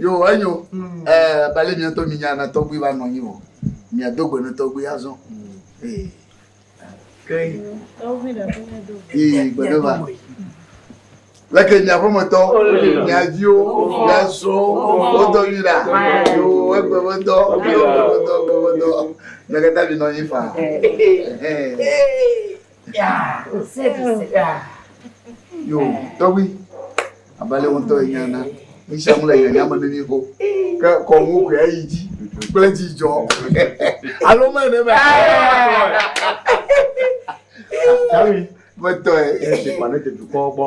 Yo enyo ɛɛ bali mi ŋutɔ mi nya na tɔgbui va nɔ anyi vɔ mi ado gbe ne tɔgbui azɔ. Ee. Ee gbe ne va. Leke mi aƒemetɔ, mia viwo, mia srɔ̃wo, wodɔ mi ɖa. Yo egbe me dɔ, egbe me dɔ, egbe me dɔ. Mia katã mi nɔ anyi faa. Yo, tɔgbi, abale ŋutɔ yi nya na, misi amu le yi nya me ne mi ko, ke kɔ ŋu ko ya yi ji, kple ji jɔ, alo me ne me. Tɔgbi, me tɔ ye. Esi kpa ne te dukɔ gbɔ.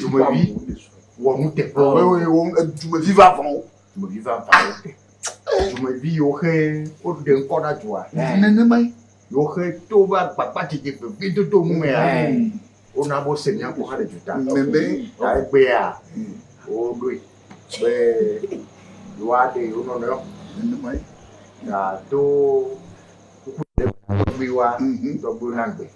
Dumevi wɔ nuteƒe. Dumevi va vɔn wo. Dumevi va vɔn wo. Dumevi yiwo xe woɖe ŋkɔ na dua. Nenema ye. Yiwo xe to va gbagba dzedze gbegbe dodo nu mea. Wona bo se nya kɔ hã le duta. Nene. Ta egbea woɖoe be yewoa ɖe yewo nɔnɔ. Nenema ye. Na to. Kuku ɖe. Kuku wa. Tɔgbe na gbe.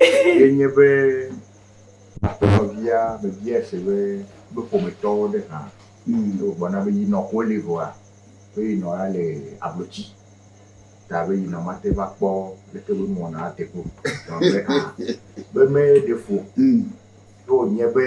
ye nye be nɔvia mebia se be be ƒometɔwo ɖe hã wogblɔ na be yinɔ ko li vɔa be yinɔ ya le ablotsi ta be yinɔ mate va kpɔ leke be mɔ na ate ko be hã be me ɖe fo ye wonye be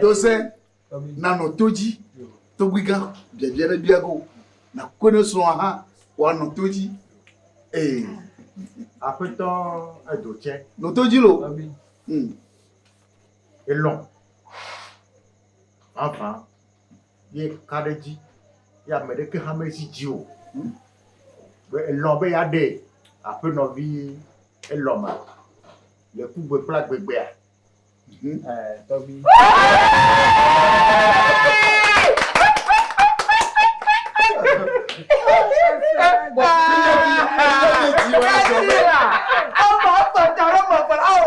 dose nanɔ to dzi togbi gã biabia ɖe bia go na ko ne srɔ̃a hã woanɔ to dzi ee aƒetɔ edo tsɛ nɔ to dzi lo elɔ vavã ye ka ɖe edzi ye ame ɖeke hã mezi dzi o. Be elɔ be yeaɖee. Aƒenɔ vi elɔ ma le kugbe kple agbegbea. Mhm. Eh, tɔgbi. Ama, apa, cara, apa, au.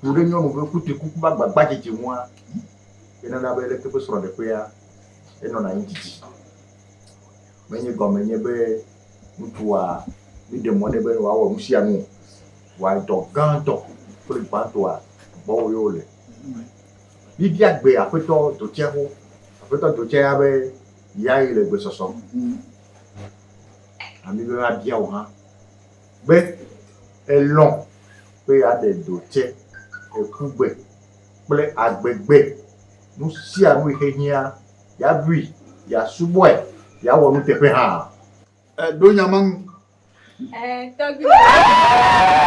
ku ɖe nyɔnu ƒe kutrikuku ƒe agbagbadzedze ŋua, enana be leke ƒe srɔ̃ɖeƒea enɔna anyi didi. Menye gɔme nye be ŋutsua míɖe mɔ nɛ be wòawɔ nu sia nu o, vɔa dɔ gãtɔ kple gbãtɔa, gbɔwò ye wole. Míebia gbe Aƒetɔ Dotsɛ xoxo, Aƒetɔ Dotsɛ ya be yae le gbesɔsɔ. Na mí be míabia wò hã. Gbe elɔ̃ be yeaɖe do tsɛ, ekugbe kple agbegbe, nu sia nu yi xe hiã, yeabui, yeasubɔe, yeawɔ nuteƒe hã. Èɖo nya ma ŋu? Ẽ, tɔgbuiyɔ.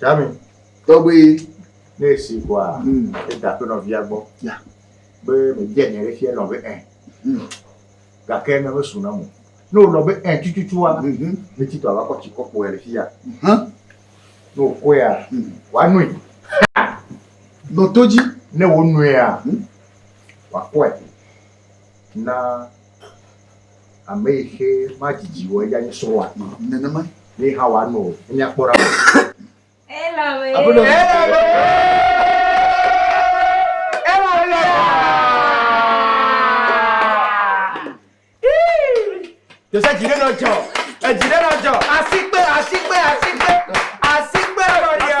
Tami, tɔgbe ne esi ʋɔa eda ƒe nɔvia gbɔ be mebia nya ɖe fia nɔ be ɛ gake ne mesu na mo ne wònɔ be ɛ tututua metsi tɔ ava kɔ tsi kɔ kpoe le fia ne wòkɔea wòanoe nɔ to dzi ne wònoea wòakɔe na Ame yi xe madidi wɔ eya nye srɔ̃a. Nenema ye hã wòanɔ o. Enya kpɔ ɖa. Elame. Aƒenɔ. Elame. Elame. Jose dzi ɖe nɔ dzɔ. Edzi ɖe nɔ dzɔ. Asikpe, asikpe, asikpe, asikpe nɔ dzɔ.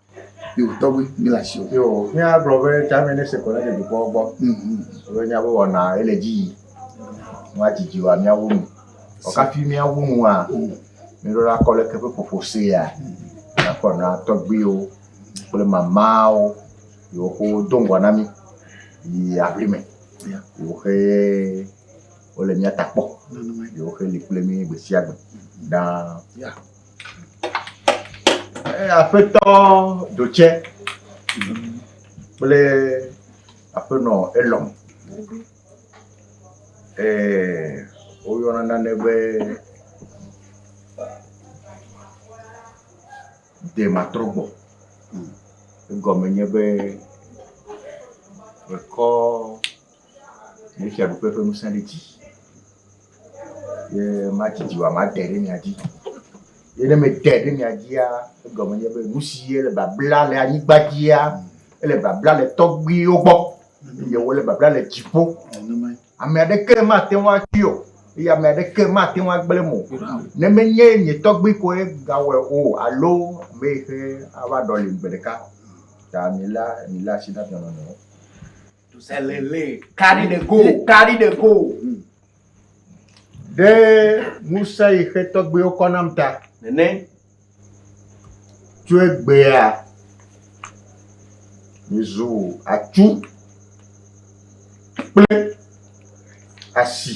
Yo tɔgbi mi la si o. Yo, mi a gblɔ be tsa mi ne se ko ne de dukɔ gbɔ. Mhm. Be mi a be wɔ na ele dzi yi. Mo a jiji wa mi a wo nu. O ka fi mi a wo nu a. Mhm. Mi ro la kɔ le ke pe popo se ya. Mhm. Na kɔ na tɔgbi o. Kple mama o. Yo ko don gwa na mi. Yi a vli me. Ya. Yo xe o le mi a takpɔ. Yo xe li kple mi gbe si a gbe. Da. Ya. Aƒetɔ Ɖotsɛ kple aƒenɔ Elɔn eeee woyɔna nane be dematrɔgbɔ. Egɔme nye be mekɔ. Ne fiaɖuƒe ƒe ŋusẽ ɖe dzi, ye madzi dziwò made ɖe mia dzi. Ye ne mede ɖe mia dzia, egɔme nye be nu si ye le babla le anyigba dzia, ele babla le tɔgbuiwo gbɔ, eye wole babla le dziƒo. Ame aɖeke mate ŋu atui o, eye ame aɖeke mate ŋu agblẽ mo. Ne menye nye tɔgbui koe gawɔe o alo ame yi ke ava ɖɔlim gbe ɖeka ta mila mila asi na dɔnɔnɔ. Elele. Carry the goal. Carry the goal. Hmm. Ɖe ŋusẽ yi xe tɔgbewo kɔ nam ta. Nene. Tso egbea. Mizu atsu. Kple asi.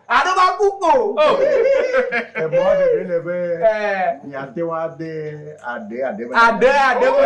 Aɖo va ku o. Emɔ ɖeɖe le be miate ŋu ade aɖe aɖe me. Aɖe aɖe me.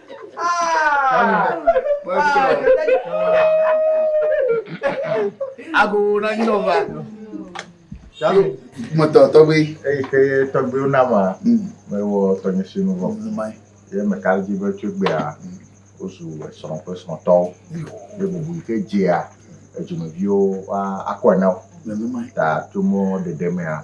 Agogo na nyinɔ va. Salu. Mɔtɔ tɔgbe. Eyi ke tɔgbewo na ma. Mewɔ tɔnye si nu vɔ. Ye meka ɖe edzi be tso egbea wozu esrɔ̃ kple esrɔ̃tɔwo. Ye bubu yi ke dzea edzimeviwo woa akɔe na wo. Ta tso mɔ ɖeɖe mea.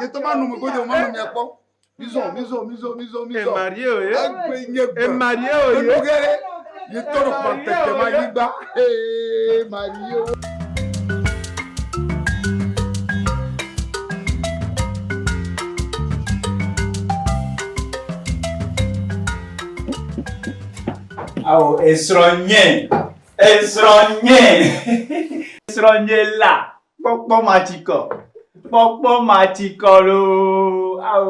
Yetɔ ma nu me godo ma nu mia kpɔ. Mizɔ mizɔ mizɔ mizɔ mizɔ. Emarie oye. Egbe nye gbe. Emarie oye. Enu ge ɖe yetɔ ɖe kpa tete ma nyigba. Emarie oye. Awo esrɔ̃ nye esrɔ̃ nye esrɔ̃ nye la. Kpɔkpɔ matsikɔ, kpɔkpɔ matsikɔ loo ao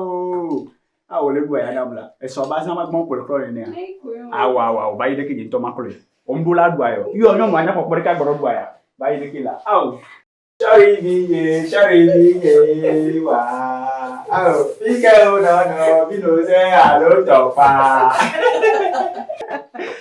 ao le bu aya nam la esɔ ba zã magbɔ kplɔ kplɔ nenea. Ao ao ao bayi ɖeke dzi ŋutɔ makplɔe. Omɖo la ɖua yɔ. Yɔ nyɔnu anya kpɔkpɔ ɖeka gbɔdɔ ɖua ya. Bayi ɖeke la ao. Sɔri vinye, sɔri vinye wa ao fike o nɔnɔ vino ze alo tɔfa.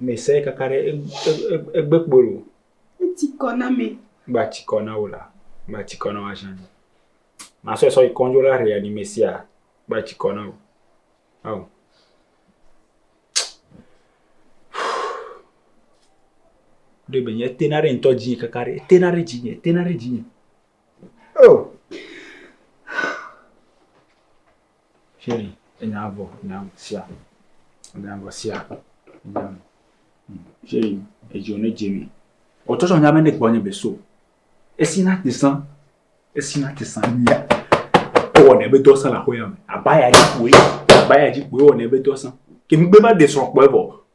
Mesai kaka ɖe egbe kpolo. Eti kɔ na me. Ba ti kɔ na wo la. Ba ti kɔ na wo ajan. Ma sɔ sɔ ikɔnjo la ria ni mesia. Ba ti kɔ na wo. Aw. Ɖe be nye tena ɖe ŋutɔ dzi kaka ɖe. Tena ɖe dzi nye. Tena ɖe dzi nye. Oh. Shey enya vɔ nya sia enya vɔ sia enya vɔ. Shey edzo ne dze mi. Ɔtsɔtsɔ nya mene kpɔ nye be so. Esi na te san. Esi na te san nya. Ewɔ ne be dɔ san la xoya me. Abaya ji kpoe. Abaya ji kpoe wɔ ne be dɔ san. Ke mi gbe ba de srɔ̃ kpɔe vɔ.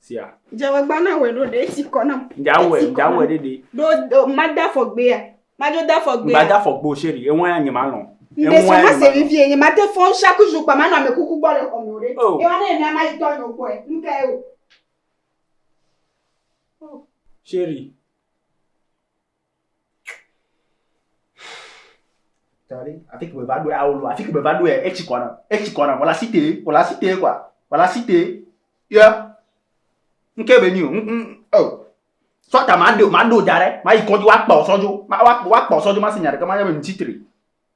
sia. Dzemagba na wɛ ɖo ɖe esi kɔ nam. Dzawɛ dzawɛ ɖe ɖe. Ɖo ɖo mada fɔgbea. Madzo da fɔgbea. Gbada fɔgbo sheri eŋɔ ya nye malɔ. Ŋdɛ sɔ na se mi vie nye mate fɔ ŋsha ku zu kpa manɔ ame kuku gbɔ le xɔ me o ɖe. Oh. Ewa ne ena ma yi tɔ nyo kpɔe. Ŋka ye o. Sheri. Afi ke meva ɖoe awo lo, afi ke meva ɖoe etsi kɔ nam, etsi kɔ nam, wòle asi te, wòle asi te kɔa, wòle asi te yɔ ŋke be nyi o ŋ ŋ ɔ. Sɔ ta maɖo maɖo da ɖe mayi kɔdzi woakpɔ sɔ dzo, woakpɔ sɔ dzo mase nya ɖeke manya be ŋtsi tri.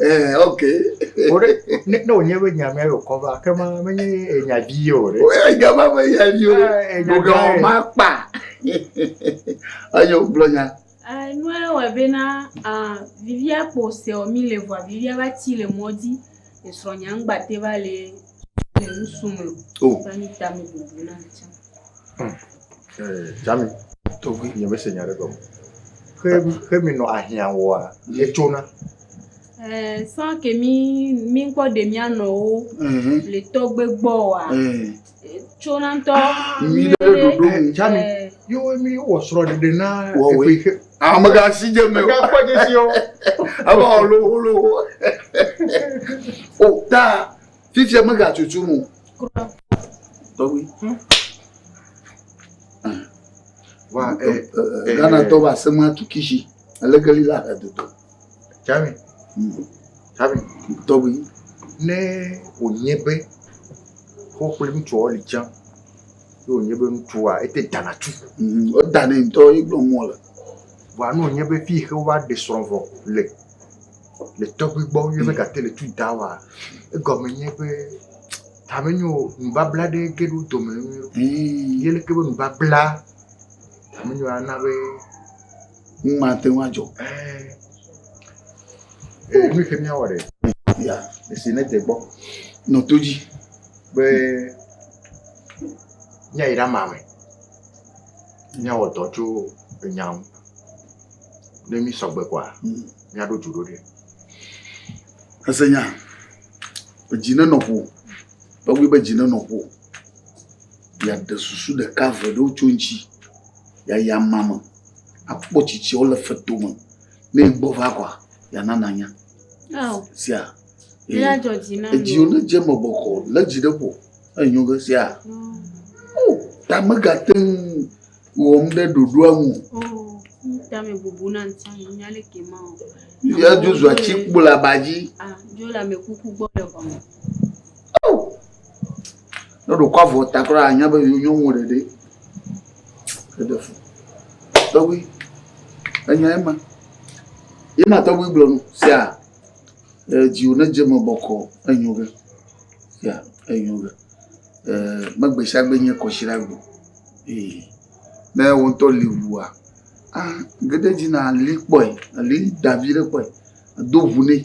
Eh, ok. Wo ɖe, ne, ne wònye be nya mea yɔ kɔ va, ke ma menye enya vi ye o ɖe. Woyɔ nya ma be nya vi o. Eh, enya Ɖoga gãe. ma kpa. Eyo, gblɔ nya. Eh, nua wɔe bena, ah, vivia kpo seɔ mi le vɔa vivia va ti le mɔdzi. Esrɔ̃nyea ŋgba te va le Jami, togbe nye me se nya ɖe gɔme. Xe xe mi nɔ ahiã wɔa ye tsona. Eh, sans que mi mi ŋkɔ ɖe mia nɔwo le tɔgbe gbɔ wa. Tsona ŋtɔ. Mi ɖe ɖoɖo. Jami, yo mi wɔ srɔ ɖeɖe na eƒe xe. Amega si dze me. Amega kpɔ dze si wo. Ebe ɔlo olo. O ta fifi amega tutu nu. Tɔgbi. Wa ɛ. Eh, eh, eh, Ghana tɔ ba se ma tu kisi. Alekeli la ɛ dodo. Jami. Hmm. Jami. Tɔgbi. Ne o nye be. Xɔ kple ŋutsu ɔ li tsã. Ne wònye be ŋutsua, ete dana tu. Mm, wodanɛ ŋutɔ ye gblɔ nu wòle. Vɔa ne wònye be fi yi xe wova ɖe srɔ̃ vɔ le, le tɔgbui gbɔ ye be gate le tu da woa, egɔme nye be ta menyo o, nubabla ɖe ge ɖe wo dome nyuie ɖo. Ye leke be nubabla ta menyo ana be Nu ma te ŋu adzɔ. Ee, nu ke míawɔ ɖe. Ya, esi ne de gbɔ. Nɔ to dzi. Be míayi ɖe ama me. Míawɔ dɔ tso enya ŋu. Ne mi sɔgbe kɔa, hmm. míaɖo dzu ɖo ɖe. Ese nya. Edzi ne nɔ ƒo. Tɔgbi be dzi ne nɔ ƒo. Bia de susu ɖeka ve ɖewo tso ŋtsi. Ya ya mama. akpɔ tsitsi wole feto me ne gbɔ va kɔa yana nanya sia edziwo ne dze me bɔkɔ le dzi ɖe ƒo enyo ge sia o ta megate ŋu wɔm ɖe ɖoɖoa ŋu tame bubu na ŋuti nya le ke ma o ya dzo zua tsi kpo le aba dzi dzo le amekuku gbɔ le xɔme Ne ɖe wòkɔ avɔ ta kura la, ànya be yewo nyɔnuwo ɖeɖe. Eɖe fu. Tɔgbi, enyae ma. Ye ma tɔgbi gblɔ nu sia, eh, dziwò ne dze eme bɔkɔɔ, enyo ge. Ya, enyo ge. Eh, megbe sia gbe nye kɔsiɖa gbe o. Ee. Ne wò ŋutɔ li ŋua, ah, ge ɖe edzi na li kpɔe, li da viɖe kpɔe, do ŋu nɛ.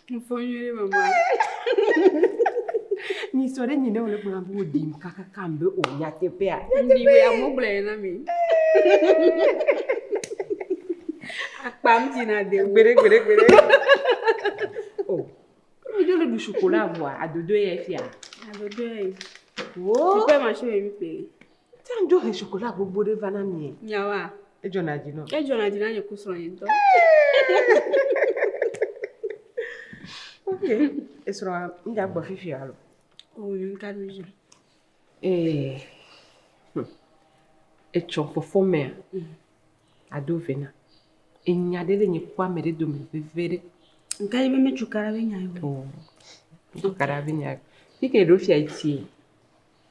Info nyuie ɖe mama. Ni sɔ ɖe nyi ne wòle gblɔm be wòɖim kakaka be o nyateƒea. Ndi be amewo gblɔe na mi. Akpam dzina de. Gbere gbere gbere. O. Mi ɖo le ɖu chocolat vɔa adodo ye fia. Adodo ye. Wo. Tukpe ma shi mi pe. Tia ŋdzo he chocolat gbogbo ɖe va na mie. Nyawa. Edzɔna dzi nɔ. Edzɔna dzi na nye ku srɔ̃ nye ŋutɔ. Ok, esrɔ̃a ŋda gbɔ fifi alo. O yi ŋka ɖo dzi. Ee. Hm. Etsɔ fɔfɔ mea. Mm. Ado vena. Enya ɖe le nye ku ame ɖe dome veve ɖe. Ŋka yi be me cukaɖa be nya yo. O. Cukaɖa be nya yo. Fike ɖo fia etie.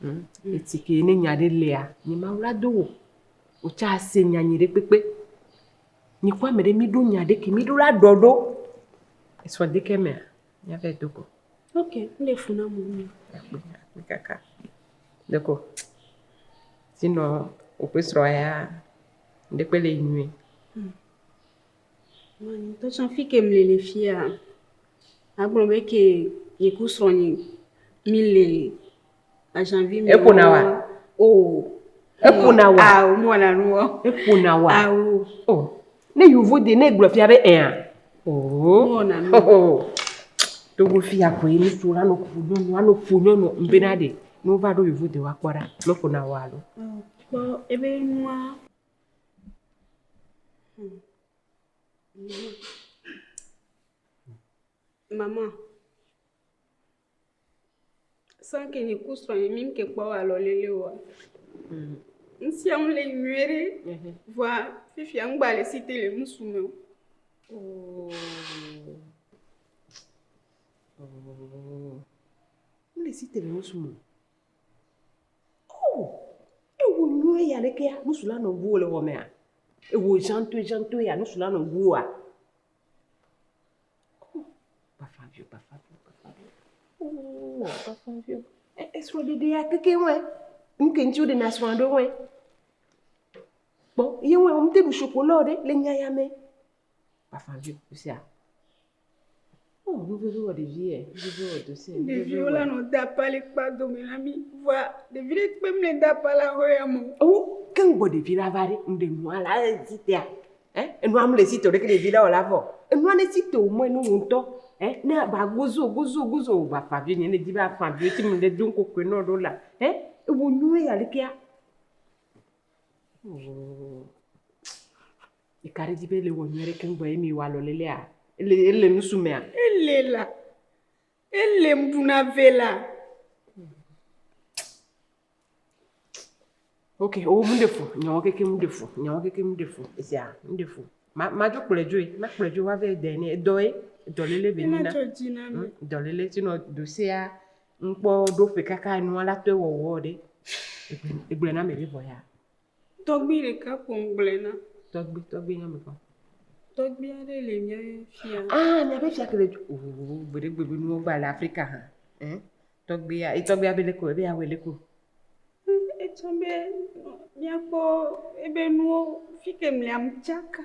Hm, eti ke ne nya ɖe lea, nye Mawu la do wò. Wò tsa ase nya nyi ɖe kpekpe. Nye kɔ ame ɖe mi ɖo nya ɖe ke mi ɖo la ɖɔ ɖo. Esɔ de ke mea, nya vɛ do ko. Ok, mi le funa mu mi. Akpe, akpe kaka. Deko, si nɔ wò pe srɔ ya, ɖe kpe le yi nyui. Hm. Ŋutɔ tsã fike mì le fiya, agblɔ be ke nye ku srɔ̃nye mì le aʒanvi mɛ. Eƒona wa? O. Eƒona wa? Ao, mewɔna nu o. Eƒona wa? Ao. O. Ne yovo de ne egblɔ fia be ɛa? Oo. Mewɔna nu o. Togo fiya koe ŋutsu la nɔ ƒo nyɔnu, anɔ ƒo nyɔnu bena ɖe ne wova ɖo yovo de woakpɔ ɖa ne eƒona wa alo. Kpɔ ebe nua. Mama, san ke nye ku srɔ̃ nye mi ke kpɔ wa lɔ lele wa. Mm. Ŋsia ŋu le nyuie ɖe. Mhm. Vɔa fifia ŋgba le si te le ŋusu me. Oh. Oh. Ŋle si te le ŋusu me. Oo! Ewò nyuie ya ɖekea, nusu la nɔ ŋuwò le xɔmea? Ewò ʒantoeʒantoe ya, nusu la nɔ ŋuwòa? Oo! Bafa viwo, bafa viwo, bafa viwo. Oo! Bafa viwo. E, esrɔ̃ɖeɖea keke wɔe. Nu ke ŋuti woɖena srɔ̃a ɖo wɔe. Kpɔ, ye wɔe, womete ɖu shoko lɔ ɖe le nya ya mɛ. Bafa viwo, nusia. Oh, nuvevi wɔ ɖevi yɛ, nuvevi wɔ dosi yɛ. Ɖevi wo lanɔ dapa le kpa dome na mi. Vɔa ɖevi ɖe kpe mle dapa la hɔ ya mo. O, ke ŋgbɔ ɖevi la va ɖe, ŋɖe nua la ezi tea. Eh, enua mle si to ɖeke ɖevi la wɔ la vɔ. Enua ne si to mɔ enu ŋutɔ. Eh, ne ba gozo, gozo, gozo, ba fa vi ne ne di ba fa vi ti mu ɖe do ŋkokwe nɔ ɖo la. Eh, ewo nue ya ɖekea. Oh. Ɖeka ɖe dzi be ele wɔ nyuie ɖe keŋ vɔ ye mi wa lɔlelea. Ele ele nusu mea. Ele la. Ele mɖuna ve la. Ok, o oh, mɖe fu. Nyawo keke mɖe fu. Nyawo keke mɖe fu. Esia mɖe fu. Ma ma dzo kplɔe dzoe. Ma kplɔe dzoe wa ve dɛ ne edɔ ye. Edɔ lele be nina. Ena dzo dzi na mi. Hmm, edɔ lele ti nɔ dosia. Nkpɔ ɖo ƒe kaka nua la tɔe wɔwɔ ɖe. Egble na me be vɔ ya. Tɔgbui ɖeka ko ŋgblɔe na. Tɔgbui, tɔgbui nye ame kɔkɔ. Tɔgbui aɖe le míaƒe fia. Ah, míaƒe fia ke le dzi. Oh, gbeɖe gbeɖe nuwo gba le Afrika hã. Eh? Tɔgbuia, e tɔgbuia be leko, ebe awɔ leko. Etsɔ be míakpɔ ebe nuwo fike mliam tsaka.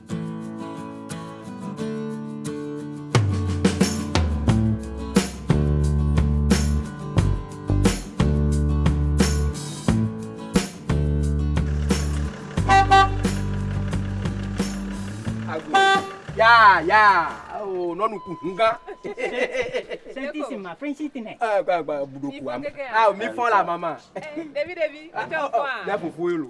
Ya, ya. Oh, nɔnu ku ŋu gã. Sɛntisi ma, fɛnsi ti nɛ. Ɛɛ, gba gba buɖo ku am. Ah, mi fɔ la mama. Ɖevi ɖevi, ɔtɔ fɔ a. Ne fofo ye lo.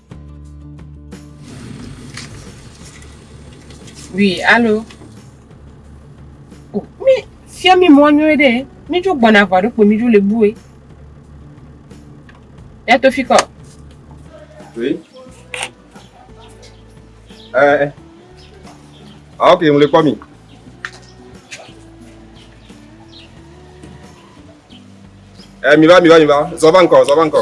Oui, allô Oh, mi fia mi mɔ nyuie ɖe. Mi dzo gbɔna vɔ ɖokpo mi dzo le bue. Ya to fi kɔ. Oui. Eh, eh. Ah, ok, ŋle kpɔ mi. Eh, mi va, mi va, mi va. Zɔ va ŋkɔ, zɔ va ŋkɔ.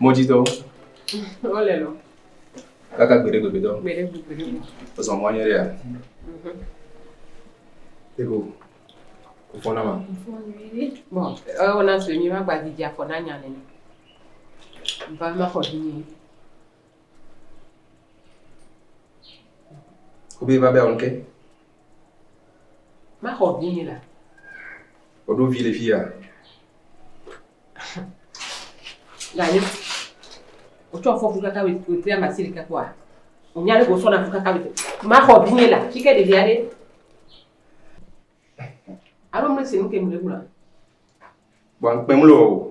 Mɔdzitɔwo. Wole lɔ. Kaka gbeɖe gbeɖe dɔ. Gbeɖe gbeɖe dɔ. Ozɔ mɔ anyɛ ɖea. Ego. Kofɔ na ma. Bɔ, ewɔ na sɔ mi ma gba didi afɔ na nya nene. Ba ma xɔ di ni. Obi va bɛ onke. Maxɔ vi ni la. Woɖo vi le fi ya. Gale. Wotsɔ afɔku kaka wetri ama si ɖeka kpɔa. Wonya ɖe wosɔ na kaka wetri. Maxɔ vi ni la. Fi ke ɖevia ɖe. Alo mle si nu ke mle gblɔa. Gbɔn kpemlo.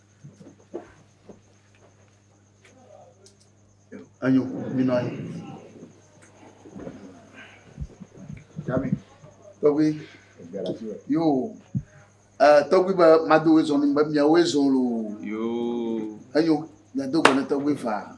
Enyo, minɔ anyi. Dami, tɔgbi, yo, ɛ, tɔgbi be mado wo zɔn be miawo zɔn lo. Yo. Enyo, miado gbe ne tɔgbi faa.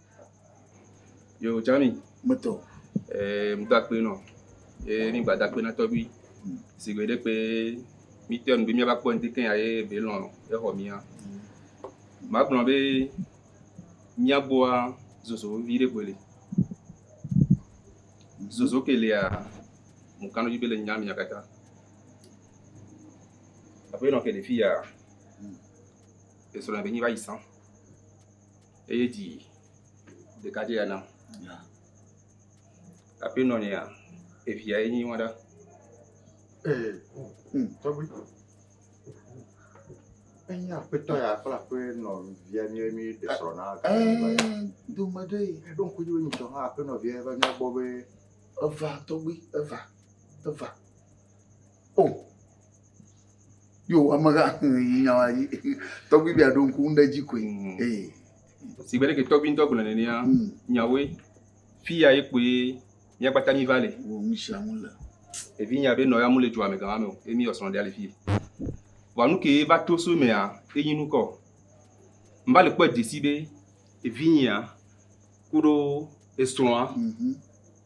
Yo tsã mi. Meto. Ee, mi do akpe nɔ. Ye mi gba do akpe na tɔgbui. Si gbe ɖe kpe mi tɔ nu be mi va kpɔ ŋdi kɛn aye be lɔ exɔ mia. Ma gblɔ be mia boa zozo vi ɖe gbele. Zozo ke lia mo kanu be le nya mia kata. Abe nɔ ke le fi ya. Esra be nyi va yi sang. eye dzi ɖeka dzi ya nam aƒe nɔnɔea evia ye nyi wọn ɖa. Ee, mm, tɔgbi. Enye aƒetɔ ya kple aƒe nɔvia mi mi ɖe srɔ̃ na. Ee, dome ɖe. Eɖo ŋku dzi be nyitɔ hã aƒe nɔvia va nya gbɔ be. Eva tɔgbi, eva, eva. O. Oh. yo ameha yi nya yi tɔgbi bia ɖo ŋku ŋɖe dzi koe mm. ee si bɛ ɖeke tɔgbi ŋutɔ gblɔ nenea mm. nyawoe fi ya ye koe míagbata mi va le wo nu sia nu le evi nya be nɔya mu le dua me gama me o emi yɔ srɔ̃ ɖe ali fi vɔ nu ke va to so mea enyi nu kɔ mba le kpɔ dzesi be evi nya kuɖo esrɔ̃a mm -hmm.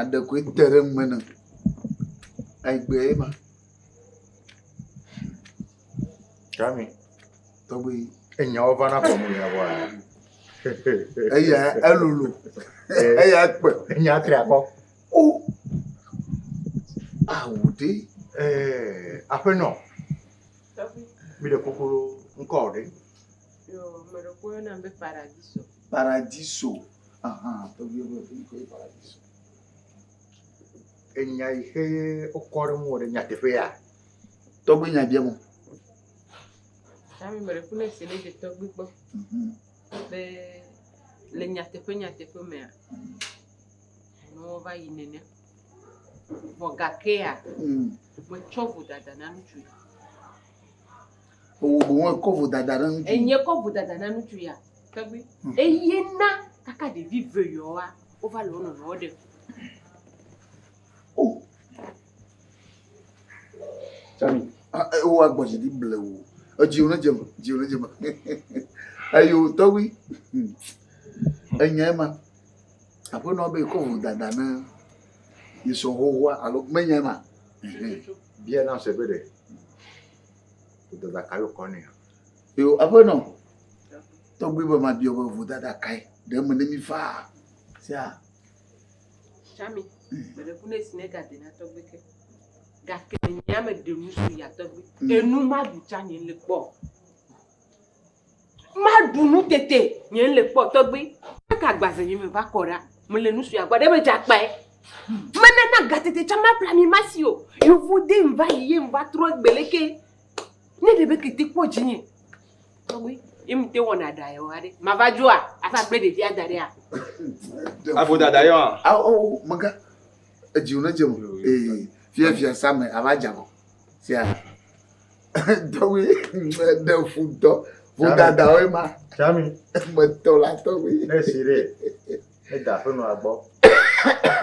aɖe koe te ɖe nume nam. Egbee ma. Kami. Tɔgbi. Enyawo va na kɔ mu ya bɔa. Eya elulu. Eya kpe. Enya tri akɔ. O. Awu de. Eh, aƒenɔ. Tɔgbi. Mi ɖe kokoro ŋkɔ ɖe. Yo, me ɖe koe na be paradiso. Paradiso. Enya yi xe ye wokɔ ɖe ŋuwò ɖe nyateƒe ya? Tɔgbi nya biam wò. Ami me ɖe ku ne si ne dze tɔgbi gbɔ be le nyateƒe nyateƒe mea ne wova yi nene. Vɔ gakea metsɔ vodada na ŋutsu. Ewò boŋ ekɔ vodada na ŋutsu. Enye kɔ vodada na ŋutsu ya tɔgbi. Hmm. Eye na kaka ɖevi ve yɔa wova le wo nɔnɔwo ɖe. O. Tsami, ewò agbɔ dzi ɖi ble wò. Edziwo ne dzeme, dziwo ne dzeme. Eyo tɔgbi. Hmm. Enye ma. Aƒenɔ be ekɔ vodada na yesɔ xoxoa alo menye ma. Bia na se be ɖe. Vodada kae wokɔ nɛ? Yo, aƒenɔ, tɔgbi be mabiɔ be vodada kae ɖe eme ne mi faa sia? Tsami, meɖe ku ne si ne ga de na tɔgbi ke. Gake nye ame ɖe nusu ya tɔgbi. Enu ma du tsa nye le kpɔ. Maɖu nu tete nye le kpɔ tɔgbi. Eka gbaze nye me va kɔ ɖa. Me le nu sua gba ɖe me dza kpae. Me ne na ga tete tsa ma pla mi ma si o. Yovo de ŋ va yi ye ŋ va trɔ egbe le ke. Ne ɖe be kete kpɔ dzi nye. Tɔgbi, ye mi te wɔ na ɖa yɔ aɖe. Ma va dzoa, a va gble ɖevia da ɖea. A vo dada yɔ a. A o, o, me ga. Edzi o ne dze me. Ee, fia fia sa me a va dza vɔ. Sia. tɔgbi ɖe fu dɔ vodada woe ma tsami metɔ la tɔgbi ne si ɖe ne da ƒe nɔa gbɔ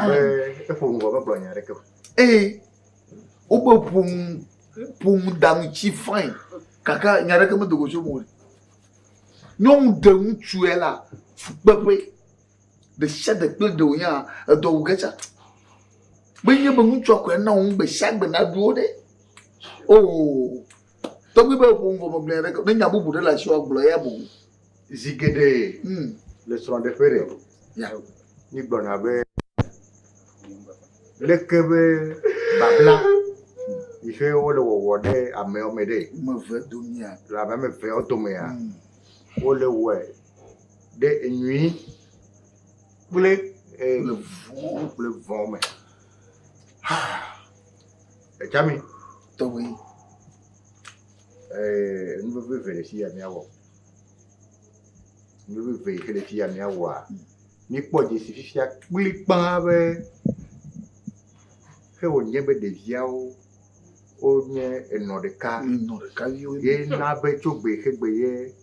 be eƒo nu vɔ megblɔ nya ɖeke o ee wobe ƒonu ƒonu danu tsi fain kaka nya ɖeke medogo tso mo nyɔnu ɖe ŋutsue la fukpeƒe Ɖesiaɖe kple ɖe wònye hã, edɔ wu ge tsã. Menye be ŋutsua koe ana wò nu gbe sia gbe nàɖu wo ɖe o. Tɔgbi be eƒo nu vɔ megblɔ nya aɖeke o. Ne nya bubu ɖe le asiwò agblɔ eya me o. Zi geɖe le srɔ̃ɖeƒe ɖe, míegblɔna be, Leke be babla yi xe wole wɔwɔ ɖe amewo me ɖe? Le ame ame eveawo domea, wole wɔe. ɖe enyui kple le vuwo kple vɔ me. Ha! Edzami. Tɔwɔe. Ɛɛ nu veve eve le fi ya míawɔ. Nu veve eve le fi ya míawɔa. Míkpɔ dzesi fifia kplikpaa be ke wònye be ɖeviawo wonye enɔ ɖeka. Enɔ ɖeka viwo. Ye na be tso gbe xe gbe ye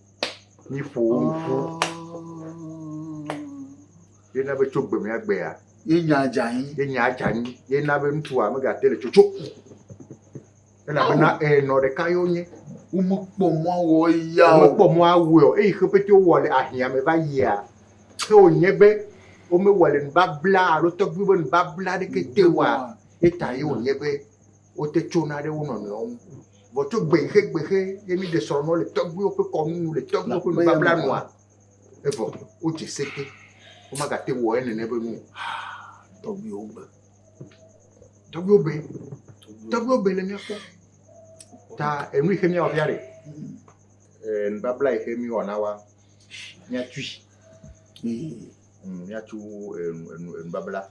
míƒowo ƒu ye na be tso gbe mea gbea. ye nya dze anyi. ye nya dze anyi ye na be ŋutsua megate le tsotso elabena enɔ ɖeka ye wonye. womekpɔ mɔ awɔ eya o. womekpɔ mɔ awɔe o eye xe pete wowɔ le ahiã me va yia ke wònye be womewɔ le nubabla alo tɔgbuiwo ƒe nubabla aɖeke te oa ye tae wònye be wote tsona ɖe wo nɔnɔewo ŋu. Vɔ tso gbexe gbexe ye mi ɖe srɔ̃nɔ le tɔgbuiwo ƒe kɔnu nu le tɔgbuiwo ƒe nubabla nua. Evɔ wodze sete. Womagate wɔ ye nene be nu. Tɔgbuiwo be. Tɔgbuiwo be. Tɔgbuiwo be le míakpɔ. Ta enu yi xe míawɔ fia ɖe. Eh, nubabla yi xe mi wɔ na wa. Míatui. Míatu eh, eh, nubabla.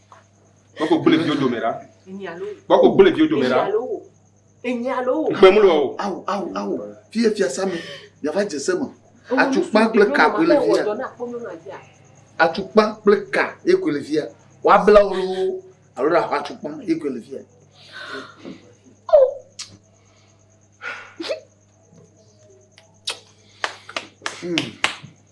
Kpɔkò gbele viwo dome ɖa. Kpɔkò gbele viwo dome ɖa. Enye alo wo. Kpɛ mulu o. Awo awo awo. Fi ye fiasa me. Yava dze se me. Atukpa kple ka koe le fi ya. Atukpa kple ka ye koe le fi ya. Woabla wo loo alo ɖaxɔ atukpa ye koe le fi ya. Hmm.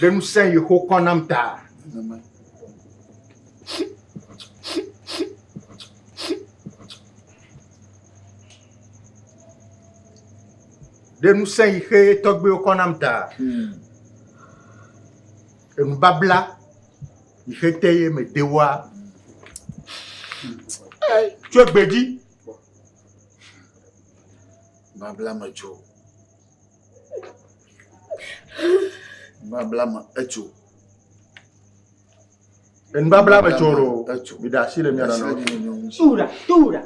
Ɖe ŋusẽ Yehowa kɔ nam ta. Ɖe ŋusẽ yi xe tɔgbewo kɔ nam ta. Enubabla yi xe te ye me de wa. Tso gbe dzi. Babla me tso. Nubabla me etso. Nubabla me tso ɖo. Etso. Mi ɖe asi le mia nɔ. Tura tura.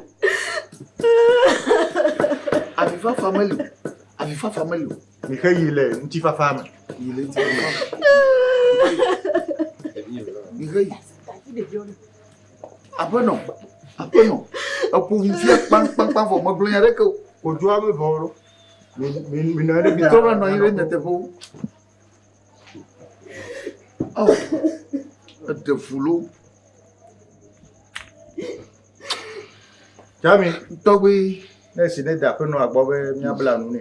Avifafa meli. Avifafa meli. Mi xe yi le ŋutifafa me. Yi le ŋutifafa me. Mi xe yi. Aƒenɔ. Aƒenɔ. Eƒo ŋu fia kpankpankpan vɔ megblɔ nya ɖeke o. Odoa me vɔ ɖo. Trɔ va nɔ anyi ɖe nyateƒewo. Ɔ, eɖe fulo. Jami, tɔgbi, ne si ne da aƒenɔ agbɔ be míabla nu nɛ.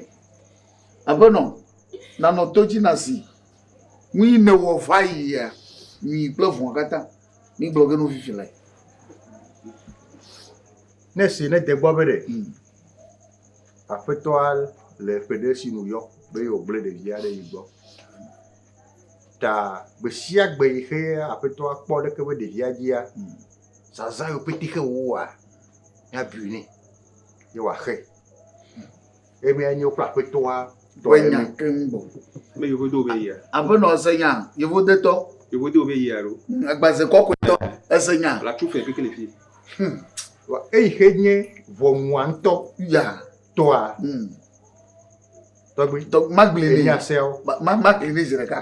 Aƒenɔ, nanɔ to dzi na si. Nu yi newɔ va yia, nyui kple vɔ̃ katã. Migblɔ ge no fifi le. Ne si ne de gbɔ be ɖe. Hmm. Aƒetɔa le ƒe ɖe si nu yɔ be yewo gblẽ ɖevia ɖe yi gbɔ ta gbe sia gbe yi xe aƒetɔa kpɔ ɖe eƒe ɖevia dzia, zazã yi pete xe wo wɔa, mia bui nɛ ye woa xe. Ye mia nye woƒe aƒetɔa tɔ ye nya keŋ bɔ. Me yevo do be yia. Aƒenɔ ese nya, yevo de tɔ. Yevo do be yia ro. Agbaze kɔkɔe tɔ ese nya. La tu fe kekele fi. Hmm. Vɔ eyi xe nye ʋɔnua ŋutɔ. Ya. Tɔa. Mm. Tɔgbi. Tɔ magli ni. Enya seawo. Ma magli ni zi ɖeka.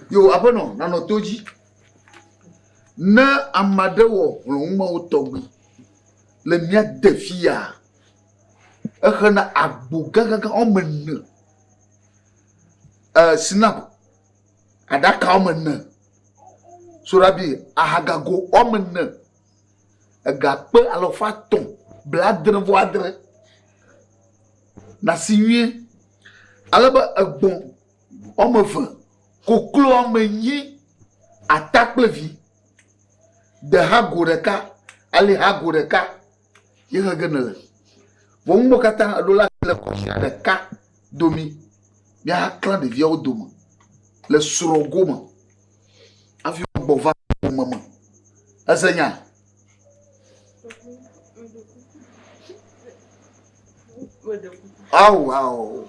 Yo aƒenɔ nanɔ to dzi. Ne ame aɖe wɔ hlɔ̃numawo tɔgbi le mía de fia, exena agbo gãgãgã woame ene, eh, sinap aɖaka woame ene, soɖabi ahagago woame ene. Egakpe alafa etɔ̃ blaadre-vɔ-adre nasi nyuie, ale be egbɔ̃ woame eve, koklo woame enyi, ata kple vi, dehago ɖeka, alihago ɖeka ye he ge nele. Vɔ nu mawo katã eɖo la le kɔsia ɖeka domi. Míahaklã ɖeviawo dome le srɔ̃go me. Hafi wogbɔ va ƒome me. Ese nya? Awu, awu.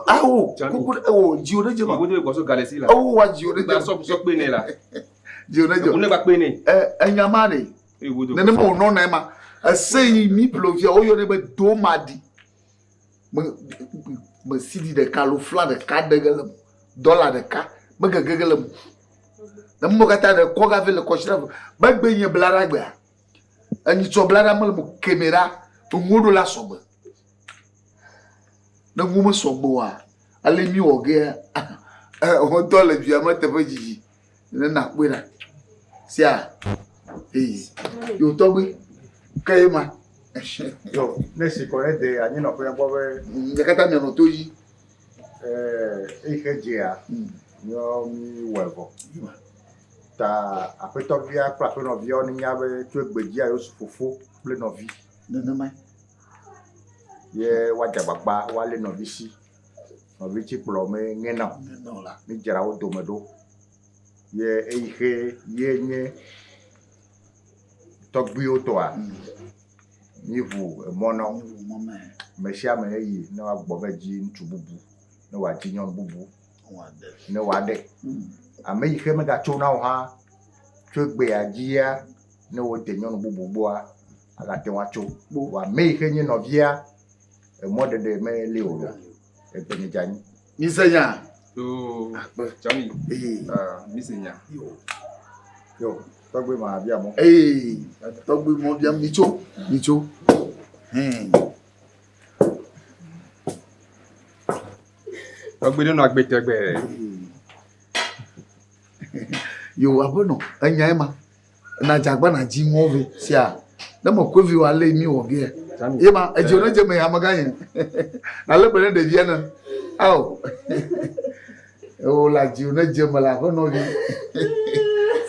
Awu, kuku ɖe, o, dziwo ɖe dze ma. Kuku ɖe gbɔsɔ galɛ si la. Awu wa dziwo ɖe dze. Gbasɔ gbɔsɔ kpe ne la. Dziwo ɖe dze. Kuku ne gba kpe ne. Ɛ, enya ma ne. Nenema wònɔ na ema. Ese yi mi plovia, woyɔ ne be domadi. me me sidi ɖeka alo fla ɖeka ɖe ge le me dɔla ɖeka megege ge le me ne mo katã ɖe kɔ gavi le kɔsira me megbe nye bla ɖa gbea enyi tsɔ bla ɖa mele mo kemɛ ɖa to ŋuwo ɖo la sɔgbe ne ŋuwo mesɔgbe oa ale mi wɔ gea ehɔtɔ le via me teƒe dzidzi ne nakpɔe ɖa sia eyi yewo tɔgbe ke ye ma. yɔ ne si kɔ ne de anyi nɔ fɛn gbɔ be. ɖeka ta mianɔ to yi. ɛɛ eyi ke dzea. yɔ mi wɔ evɔ. ta aƒetɔvia kple aƒenɔvia ne nya be tso egbe dzia yewo su fofo kple nɔvi. nenema. ye woadze agbagba woalé nɔvi si. nɔvitsikplɔ me nye na o. Mí dzra wo dome ɖo ye eyi xe ye nye tɔgbuiwo tɔa? Mí ŋu emɔ na wo. Me sia me eyi ne woagbɔ va dzi ŋutsu bubu, ne woadzi nyɔnu bubu, ne woaɖe. Ame yi xe megatso na o hã tso egbea dzia, ne wode nyɔnu bubu gbɔa, agate ŋu atso. Vɔa ame yi xe nye nɔvia. Emɔ ɖeɖe me li o. Egbe nye dza nyi. Mi se nya. Yoo. Akpe. Jami. Ee. Ah, mi se nya. Yoo. Yoo. Tɔgbe ma bia mo. Ee. Tɔgbe mo bia mi tso. Mi tso. Hmm. Tɔgbe ɖe nɔ agbe tɛgbɛ. Yoo, aƒenɔ, enya ema. na dzagba na dzi ŋɔ vɛ sia ne me kɔe vi wa le mi wɔ vɛ ye ma edzi ne dze me ya me ganye na le be ne ɖevia ne ao o la dzi ne dze me la ƒe nɔvi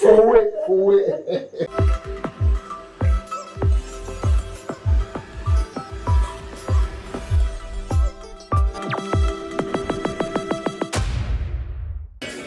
fowe fowe